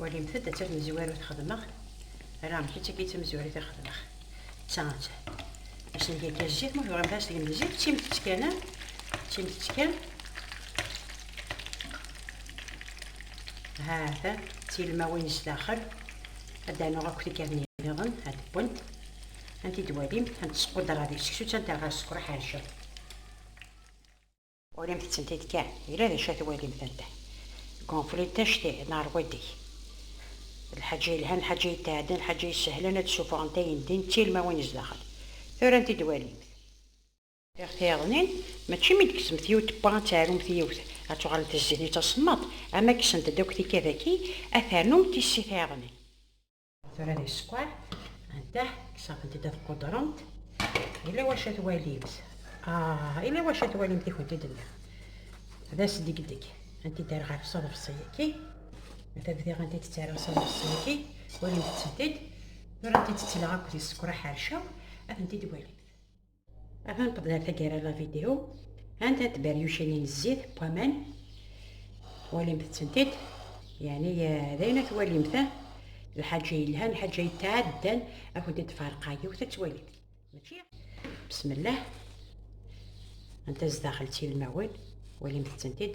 walimt-d d tamezwarut xedmeɣ ala amek i tt-agi d tamezwarut i xedmeɣ d ta atta ass n yagi zzit ma tebɣam ass deg zzit d timtett kan d timtett kan ha ta d tilmawin sdaxel ad d-anuɣ akk tikarniyen niḍen ad d-wwent anti d-walimt ad d-squdreɣ di seksu d tanta ɣer sskeṛ ḥerceɣ Urimt-tent-id kan, yella d acu ad twalimt anda. Gonflint acti, neɛreq waddek. Lḥaǧa yelhan, lḥaǧa yetɛeddan, lḥaǧa yessehlen ad d-ssuffɣent ayen ddin d tilmawin zdaxel. Tura anti d-twalimt? Iɣ tiyaḍnin, mačči mi d-tkesmemt yiwet tewwa ad teɛrumt yiwet, ad tuɣalemt d zzin-itt asemmaḍ, ama kksent-d akk tikka daki, ad ternumt tissi tiyaḍnin. tura di skwar anta ksaɣent-d ad qudrent ila wacu ad twalimt ah ila wacu ad twalimt i kent-id-nniɣ d asdegdeg anti d ɣef ṣaḍefṣi-yaki ata bdiɣ anti d-ttaraɣ ṣaḍefṣi-yaki walimt-tent-id tura anti d-ttleɣ akked isekra ḥercaw ad tent-id-walimt Ava nqeddel ar taggara la vidéo. Anta tberyucin n zzit n waman. Twalimt-tent-id. Yani d ayen ad twalimt. Lḥaǧa yelhan, lḥaǧa yetɛaddan akud d farqa yiwet ad twalimt. Mačči? Bismillah. Anta zdaxel d tilmawin. Walimt-tent-id.